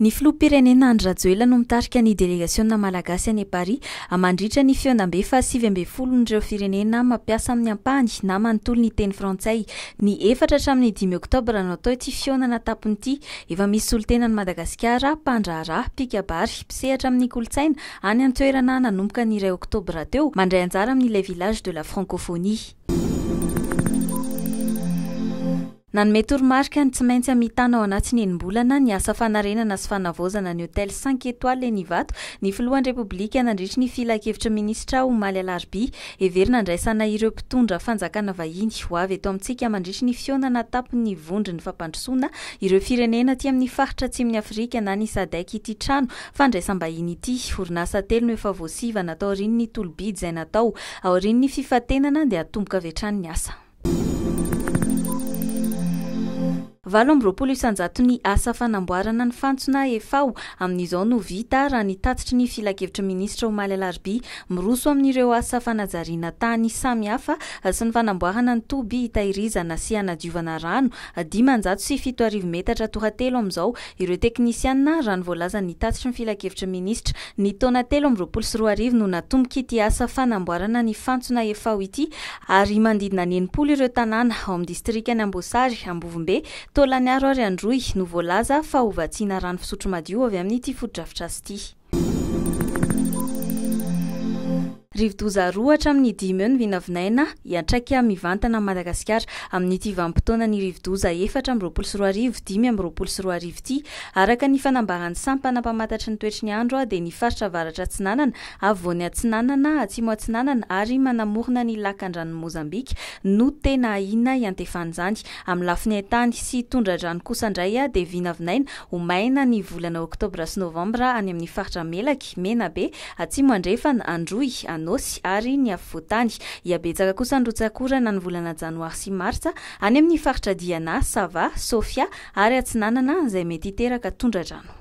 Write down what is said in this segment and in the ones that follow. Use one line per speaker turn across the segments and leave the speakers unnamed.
Ny Filoham-pirenena Andry Rajoelina no mitarika ny delegasiona malagasy any Paris amandritra ny fionam-be fahasivy ambin'ny folon'ireo firenena mampiasa amin'ny ampahany na manontolo ny teny frantsay. Ny efatra hatramin'ny dimy oktobra no atao ity fihaonana tampony ity. Efa misy solontena any Madagasikara, mpandraharaha, mpikabary, mpisehatra amin'ny kolontsaina, any an-toerana nanomboka ny iray oktobra teo, mandray anjara amin'ny Les Villages de la Francophonie. Nanome toromarika ny tsy maintsy hamitana ao anatin'ny enim-bolana ny asa fanarenana sy fanavaozana ny hotely cinq étoiles eny Ivato ny filohan'ny Repoblika nandritry ny filankevitry ny minisitra omaly alarobia. Heverina handraisana ireo mpitondra fanjakana vahiny ho avy eto amintsika mandritry ny fihaonana an-tampon'ny vondron'ny fampandrosoana ireo firenena aty amin'ny faritra atsimon'i Afrika na ny Sadec ity trano fandraisam-bahiny ity. Orinasa telo no efa voasivana taorian'ny tolo-bidy izay natao aorian'ny fifantenana dia hatomboka avy hatrany ny asa. Valo amby roapolo isanjato ny asa fanamboarana ny fantsona efa ho amin'izao no vita, raha ny tatitry ny Filankevitry ny Minisitra omaly alarobia. Miroso amin'ireo asa fanajariana tany samihafa sy ny fanamboarana ny toby hitahirizana sy hanadiovana rano dimanjato sy fito arivo metatra tohatelo amin'izao Ireo teknisiana, raha ny voalazan' ny tatitry ny Filankevitry ny Minisitra, ny taona telo amby roapolo sy roa arivo no natomboka ity asa fanamboarana ny fantsona Efao ity ary manodidina ny enimpolo ireo tanàna ao amin'ny distrikan'i Amboasary, Ambovombe, Taolagnaro ary Androy no voalaza fa ho vatsiana rano fisotro madio avy amin'ity fotodrafitrasa ity. Rivodoza roa hatramin'ny dimy eo ny vinavinaina hiantraika mivantana an'i Madagasikara amin'ity vanim-potoanan'ny rivodoza efatra amby roapolo sy roa arivo dimy amby roapolo sy roa arivo ity. Araka ny fanambaran'ny sampana mpamantatry ny toetry ny andro dia ny faritra avaratra atsinanana, afovoany atsinanana, atsimo atsinanana ary manamorona ny lakan-dranon'i Mozambika no tena ahiana hiantefan'izany. Amin'ny lafiny hain-tany sy tondra-drano kosa indray dia vinavinaina Ho maina ny volana oktobra sy novambra any amin'ny faritra Melaky, Menabe, Atsimo Andrefana, Androy, Anôsy ary ny afovoan-tany. Iabetsaka kosa ny rotsak'orana ny volana janoary sy martsa any amin'ny faritra Diana, Sava, Sofia ary Atsinanana izay mety hiteraka tondra-drano.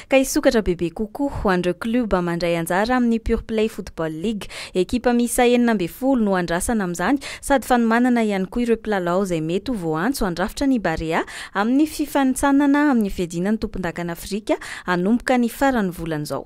ka hisokatra bebe kokoa ho an'ireo klioba mandray anjara amin'ny Pure Play Football League. Ekipa miisa enina ambin'ny folo no andrasana amin'izany sady fanomanana ihany koa ireo mpilalao izay mety ho voaantso handrafitra ny Barea amin'ny fifanintsanana amin'ny fiadiana ny tompondakan'Afrika hanomboka ny faran'ny volana izao.